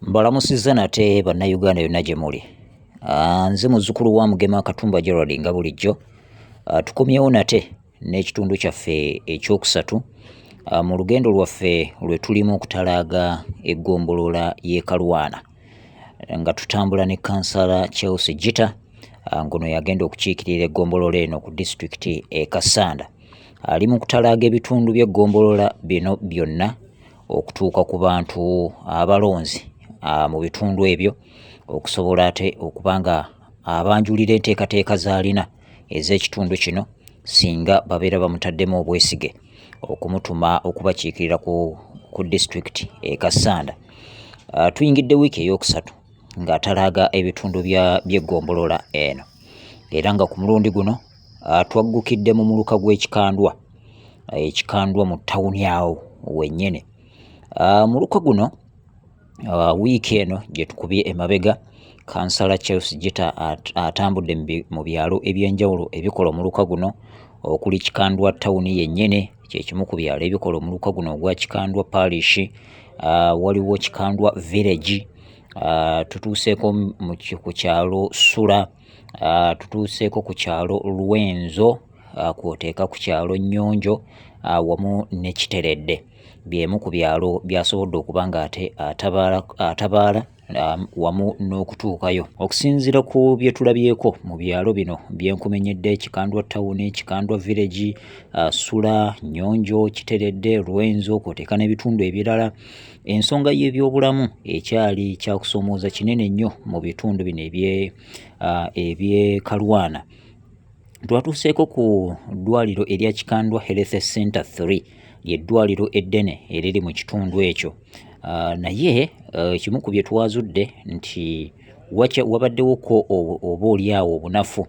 mbalamusizza nate bannayuganda yonna gye muli ah, nze muzzukulu wa mugema katumba gerald nga bulijjo ah, tukomyewo nate n'ekitundu kyaffe ekyokusatu ah, mu lugendo lwaffe lwe tulimu okutalaaga eggombolola y'e kalwana nga tutambula ne kansala chelsea gita ngono yagenda okukiikirira eggombolola eno ku disitulikiti e kasanda ali mu kutalaaga ebitundu by'eggombolola bino byonna okutuuka ku bantu abalonzi mu bitundu ebyo okusobola ate okuba nga abanjulira enteekateeka z'alina ez'ekitundu kino singa babeera bamutaddemu obwesige okumutuma okubakiikirira ku, ku disitulikiti e Kassanda. Uh, tuyingidde wiiki ey'okusatu ng'atalaaga ebitundu by'eggombolola eno era nga ku mulundi guno Ah, twaggukidde mu muluka gw'ekikandwa eh, ekikandwa mu tawuni awo wennyini ah, muluka guno ah, wiiki eno gye tukubye emabega kansala charles gita atambudde mu byalo eby'enjawulo ebikola omuluka guno okuli kikandwa tawuni yennyini kyekimu ku byalo ebikola omuluka guno ogwa kikandwa parishi waliwo kikandwa village tutuuseeko ku kyalo sula ah, tutuuseeko ku kyalo Lwenzo ah, kwoteeka ku kyalo Nnyonjo ah, wamu ne Kiteredde by'emu ku byalo byasobodde okuba ng'ate atabaala Um, wamu n'okutuukayo okusinziira ku bye tulabyeko mu byalo bino byenkumenyedde kikandwa tawuni kikandwa village uh, sula nyonjo kiteredde lwenzo kwoteeka n'ebitundu ebirala Ensonga y'ebyobulamu ekyali kyakusomooza kinene nnyo mu bitundu bino eby'e Kalwana. Twatuuseeko ku ddwaliro erya Kikandwa Health Center 3 ly'eddwaliro eddene eriri mu kitundu ekyo. Naye ekimu ku bye twazudde nti wabaddewoko oba olyawo obunafu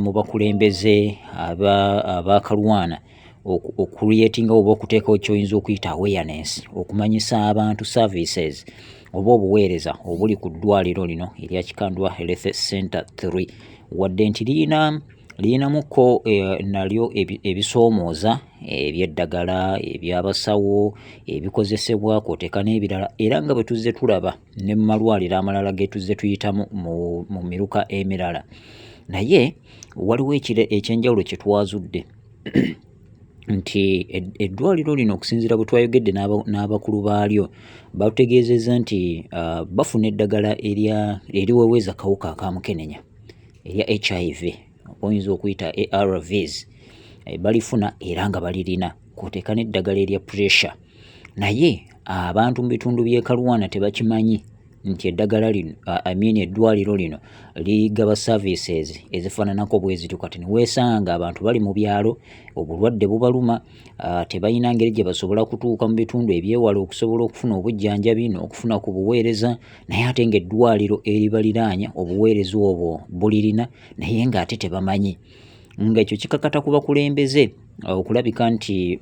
mu bakulembeze aba Kalwana. okucreatinga oba okuteekawo kyoyinza okuyita awareness okumanyisa abantu services oba obuweereza obuli ku ddwaliro lino erya kikandwa health center 3 wadde nti liyina liyinamuko eh, nalyo ebisoomooza ebyeddagala ebyabasawo ebikozesebwa kwoteeka n'ebirala era nga bwe tuzze tulaba ne mu malwaliro amalala ge tuzze tuyitamu mu miruka emirala naye waliwo ekyenjawulo kye twazudde nti eddwaliro lino okusinziira bwe twayogedde n'abakulu baalyo batutegeezezza nti ah, bafuna eddagala eriweweza akawuka aka mukenenya erya hiv oyinza okuyita arvs eh, balifuna era nga balirina kwoteeka n'eddagala erya pressure naye abantu mu bitundu by'e kalwana tebakimanyi nti eddagala lino amini eddwaliro lino ligaba services ezifaananako bwezityo kati niweesanga abantu bali mu byalo obulwadde bubaluma tebalina ngeri gye basobola kutuuka mu bitundu ebyewala okusobola okufuna obujjanjabi n'okufuna ku buweereza naye ate ng'eddwaliro eribaliraanya obuweereza obwo bulirina naye ng'ate tebamanyi ng'ekyo kikakata ku bakulembeze okulabika nti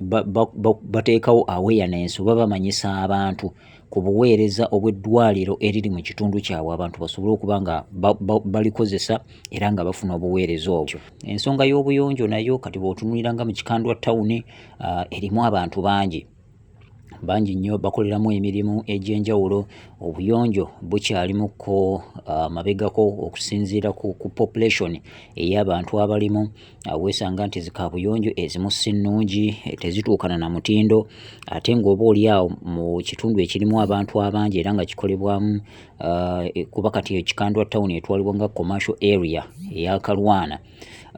bateekawo awareness oba bamanyisa abantu ku buweereza obw'eddwaliro eriri mu kitundu kyabwe abantu basobole okuba nga balikozesa era nga bafuna obuweereza obwo ensonga y'obuyonjo nayo kati bw'otunulira nga mu kikandwa tawuni ah, erimu abantu bangi bangi nnyo bakoleramu emirimu egy'enjawulo obuyonjo bukyalimuko ah, mabegako okusinziira ku population ey'abantu abalimu weesanga nti zikaabuyonjo ezimu si nnungi eh, tezituukana na mutindo ate ng'oba oliawo mu kitundu ekirimu abantu abangi era nga kikolebwamu ah, eh, kuba kati ekikandwa tawuni etwalibwa nga commercial area eyakalwana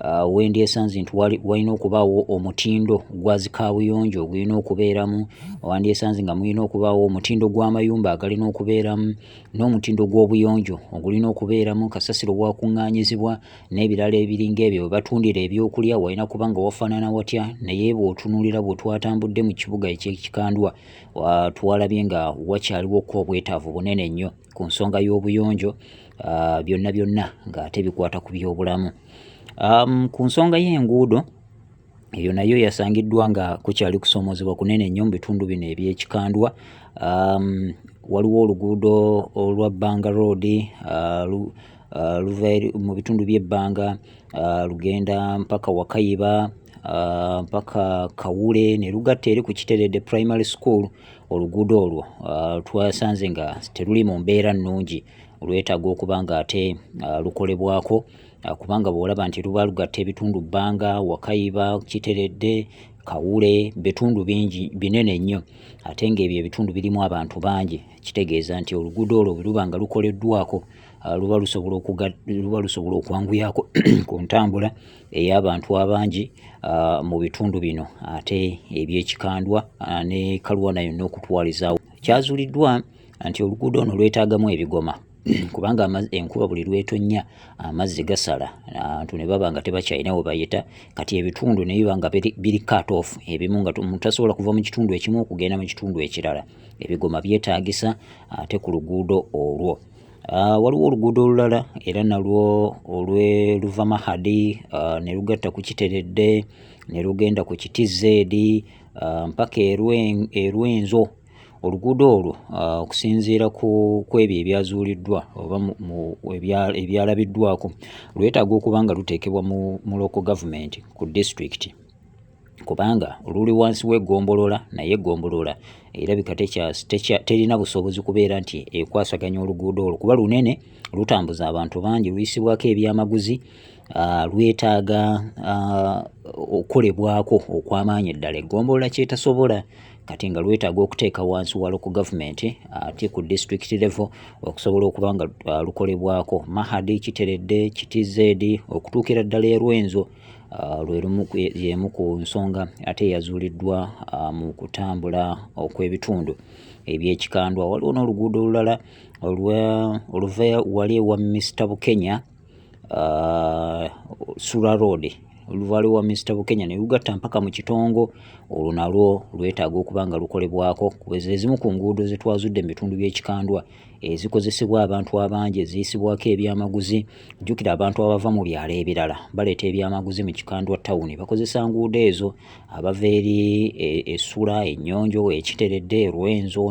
ah, wendi esanze nti walina okubaawo omutindo gwa zikaabuyonjo ogulina okubeeramu wandi esanze nga mulina okubaawo omutindo gw'amayumba agalina okubeeramu n'omutindo gw'obuyonjo ogulina okubeeramu kasasiro gwakuŋŋaanyizibwa n'ebirala ebiringa ebyo webatundira ebyokulya walina kuba nga wafaanana watya naye bw'otunuulira bwe twatambudde mu kibuga ekyekikandwa twalabye nga wakyaliwo ko obwetaavu bunene nnyo ku nsonga y'obuyonjo byonna byonna ng'ate bikwata ku byobulamu ku nsonga y'enguudo eyo nayo yasangiddwa nga kukyali kusoomoozebwa kunene nnyo mu bitundu bino ebyekikandwa waliwo oluguudo olwa banga road uh, luva mu bitundu by'ebbanga uh, lugenda mpaka wakayiba uh, mpaka kawule ne lugatta eri ku kiterede primary school oluguudo olwo uh, twasanze nga teruli mu mbeera nnungi lwetaaga okuba nga ate uh, lukolebwako uh, kubanga bwolaba nti luba lugatta ebitundu bbanga wakayiba kiteredde kawule bitundu bingi binene nnyo ate ng'ebyo ebitundu birimu abantu bangi kitegeeza nti oluguudo olwo bwe luba nga lukoleddwako Ah, luba lusobola okwanguyako ku ntambula ey'abantu abangi ah, mu bitundu bino ate ebyekikandwa ah, ne kalwana yonna okutwalizaawo kyazuliddwa nti oluguudo ono lwetaagamu ebigoma kubanga enkuba buli lwetonnya amazzi gasala abantu ne baba nga tebakyalina we bayita kati ebitundu ne biba nga biri cut off ebimu nga mutasobola kuva mu kitundu ekimu okugenda mu kitundu ekirala ebigoma byetaagisa ate ku luguudo olwo Ah, waliwo oluguudo olulala era nalwo olweluva mahadi ah, ne lugatta ku kiteredde ne lugenda ku kiti zeedi ah, mpaka erwenzo oluguudo olwo okusinziira ku ebyo ebyazuuliddwa oba ebyalabiddwako lwetaaga okuba nga luteekebwa mu local gavumenti ku disitulikiti kubanga luli wansi w'eggombolola naye eggombolola erabika terina busobozi kubeera nti ekwasaganya oluguudo olwo kuba lunene lutambuza abantu bangi luyisibwako ebyamaguzi ah, lwetaaga ah, okukolebwako okw'amaanyi eddala eggombolola kyetasobola kati nga lwetaaga okuteeka wansi walo ku gavumenti ate ku district level okusobola okuba nga ah, lukolebwako mahadi kiteredde kitizedi okutuukira ddala erwenzo Ah, lwe lumu y'emu ku nsonga ate eyazuuliddwa ah, mu kutambula okw'ebitundu eby'ekikandwa waliwo n'oluguudo olulala oluva wali ewa Mr Bukenya ah, Sura Road oluvaliwo wa Mr Bukenya ne lugatta mpaka mu kitongo olwo nalwo lwetaaga okuba nga lukolebwako kuba ezimu ku nguudo zetwazudde mu bitundu by'ekikandwa ezikozesebwa abantu abangi eziyisibwako ebyamaguzi jjukira abantu abava mu byalo ebirala baleeta ebyamaguzi mu kikandwa tawuni bakozesa nguudo ezo abava eri e, essula ennyonjo ekiteredde erwenzo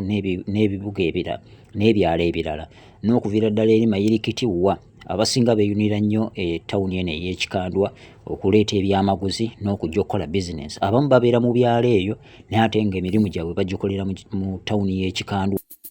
n'ebibuga ebirala n'ebyalo ebirala n'okuviira ddala eri mayirikiti wa abasinga beeyunira nnyo e tawuni eno ey'ekikandwa okuleeta ebyamaguzi n'okujja okukola bizinensi abamu babeera mu byalo eyo naye ate nga emirimu gyabwe bagikolera mu tawuni y'ekikandwa